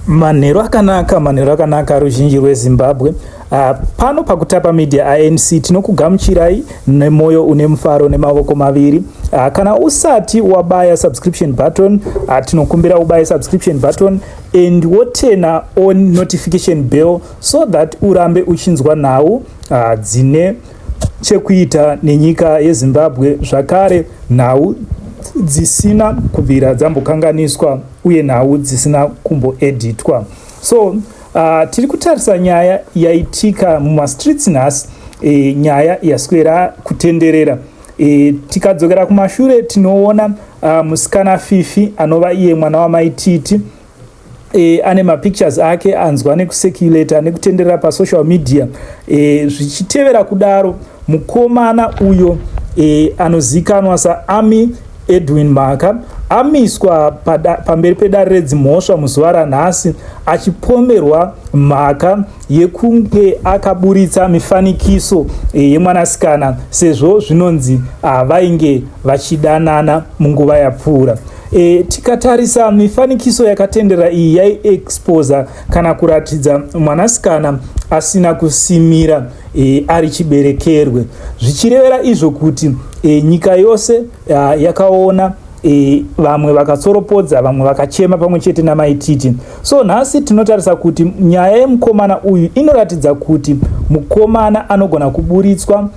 Manheru akanaka, manheru akanaka ruzhinji rweZimbabwe. Uh, pano pakutapa media anc tinokugamuchirai nemoyo une mufaro nemavoko maviri uh, kana usati wabaya subscription button uh, tinokumbira ubaye subscription button and wotena on notification bell so that urambe uchinzwa nhau uh, dzine chekuita nenyika yezimbabwe zvakare nhau dzisina kubvira dzambokanganiswa uye nhau dzisina kumboeditwa so uh, tiri kutarisa nyaya yaitika mumastreets nhasi e, nyaya yaswera kutenderera e, tikadzokera kumashure tinoona uh, musikana fifi anova iye mwana wamaititi e, ane mapictures ake anzwa nekuseculata nekutenderera pasocial media e, zvichitevera kudaro mukomana uyo e, anozikanwa saami Edwin Mhaka amiswa pamberi pedare redzimhosva muzuva ranhasi achipomerwa mhaka yekunge akaburitsa mifanikiso eh, yemwanasikana sezvo zvinonzi ah, vainge vachidanana munguva yapfuura e, tikatarisa mifanikiso yakatenderera iyi yaiexposa kana kuratidza mwanasikana asina kusimira e, ari chiberekerwe zvichirevera izvo kuti e, nyika yose a, yakaona e, vamwe vakatsoropodza vamwe vakachema pamwe chete namaititi so nhasi tinotarisa kuti nyaya yemukomana uyu inoratidza kuti mukomana anogona kuburitswa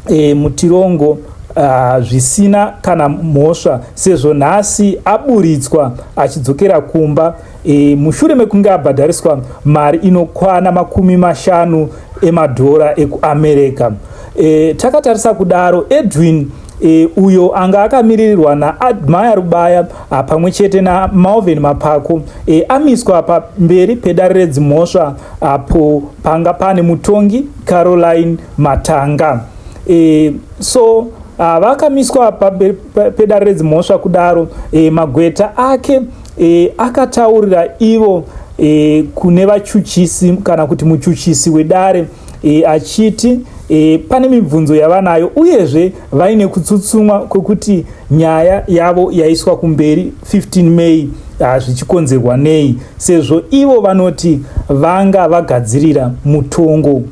e, mutirongo Ah, zvisina kana mhosva sezvo nhasi aburitswa achidzokera kumba E, mushure mekunge abhadhariswa mari inokwana makumi mashanu emadhora ekuamerica e, takatarisa kudaro edwin e, uyo anga akamiririrwa naadmaya rubaya pamwe chete namalvin mapako e, amiswa pamberi pedare redzimhosva apo panga pane mutongi caroline matanga e, so vakamiswa pamberi pedare redzimhosva kudaro e, magweta ake e, akataurira ivo e, kune vachuchisi kana kuti muchuchisi wedare e, achiti e, pane mibvunzo yavanayo uyezve vaine kutsutsumwa kwekuti nyaya yavo yaiswa kumberi 15 may ah, zvichikonzerwa nei sezvo ivo vanoti vanga vagadzirira mutongo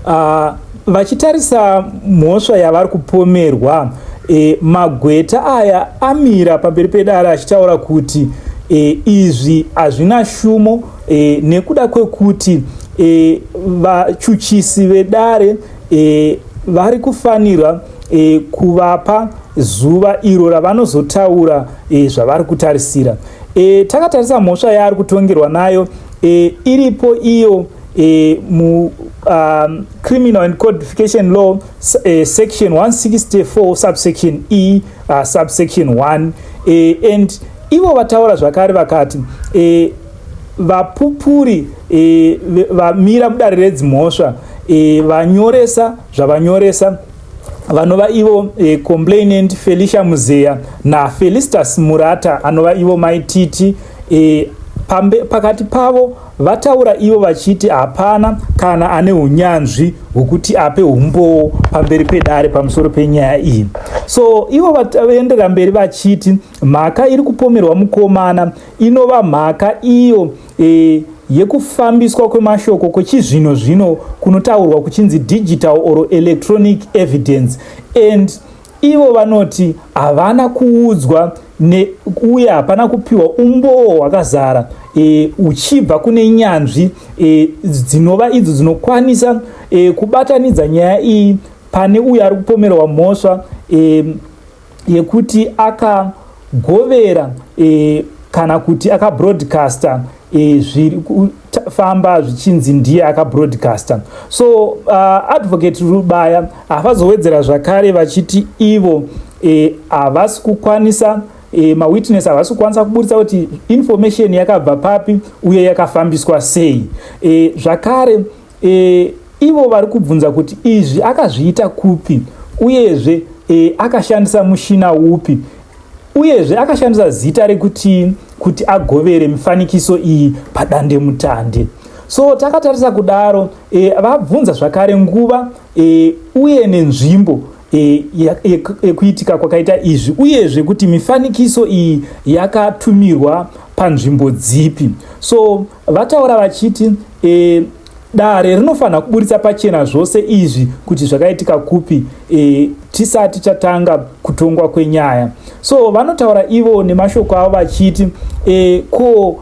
Ah, vachitarisa mhosva yavari kupomerwa e, magweta aya amira pamberi pedare achitaura kuti e, izvi hazvina shumo e, nekuda kwekuti e, vachuchisi vedare e, vari kufanirwa e, kuvapa zuva iro ravanozotaura e, zvavari kutarisira e, takatarisa mhosva yaari kutongerwa nayo e, iripo iyo e, mu um, criminal and codification law e, section 164 subsection e uh, subsection 1 e, and ivo vataura zvakare vakati e, vapupuri e, vamira mudare redzimhosva e, vanyoresa zvavanyoresa vanova ivo e, complainant felicia muzeya nafelistas murata anova ivo maititi e, pambe, pakati pavo Vataura ivo vachiti hapana kana ane unyanzvi hwekuti ape umbowo pamberi pedare pamusoro penyaya iyi. So ivo vaenderera mberi vachiti mhaka iri kupomerwa mukomana inova mhaka iyo e, yekufambiswa kwemashoko kwechizvino zvino kunotaurwa kuchinzi digital or electronic evidence and Ivo vanoti havana kuudzwa ne, uye hapana kupiwa umboo hwakazara e, uchibva kune nyanzvi e, dzinova idzo dzinokwanisa e, kubatanidza nyaya iyi pane uyo ari kupomerwa mhosva e, yekuti akagovera e, kana kuti akabroadcaster e, zviri kufamba zvichinzi ndiye akabroadcaster so uh, advocate rubaya havazowedzera zvakare vachiti ivo e, havasi e, kukwanisa e, mawitness havasi kukwanisa kuburitsa kuti information yakabva papi uye yakafambiswa sei e, zvakare E, ivo vari kubvunza kuti izvi akazviita kupi uyezve e, akashandisa mushina upi uyezve akashandisa zita rekuti kuti agovere mifanikiso iyi padande mutande so takatarisa kudaro e, vabvunza zvakare nguva e, uye nenzvimbo e, yekuitika e, e, kwakaita izvi uyezve kuti mifanikiso iyi yakatumirwa panzvimbo dzipi so Vataura vachiti e, dare rinofanira kuburitsa pachena zvose izvi kuti zvakaitika kupi e, tisati chatanga kutongwa kwenyaya so vanotaura ivo nemashoko avo vachiti e, ko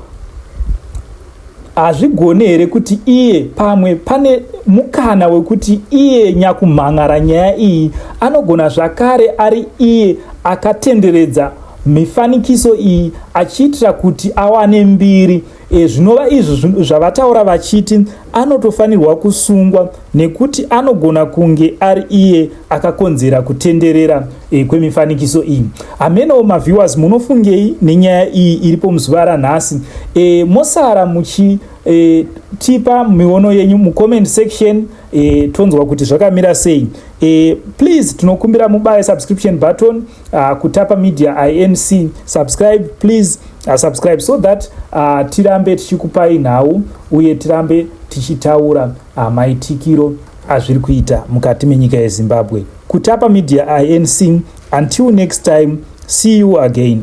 hazvigone here kuti iye pamwe pane mukana wekuti iye nyakumhan'ara nyaya iyi anogona zvakare ari iye akatenderedza mifanikiso iyi achiitira kuti awane mbiri e, zvinova izvi zvavataura vachiti anotofanirwa kusungwa nekuti anogona kunge ari iye akakonzera kutenderera e, kwemifanikiso iyi hamenowo maviewers munofungei nenyaya iyi iripo muzuva ranhasi e, mosara muchi e, tipa miono yenyu mucomment section e, tonzwa kuti zvakamira sei e, please tinokumbira mubaye subscription button uh, kutapa media inc subscribe please uh, subscribe so that uh, tirambe tichikupai nhau uye tirambe tichitaura uh, maitikiro azviri kuita mukati menyika yezimbabwe kutapa media inc until next time see you again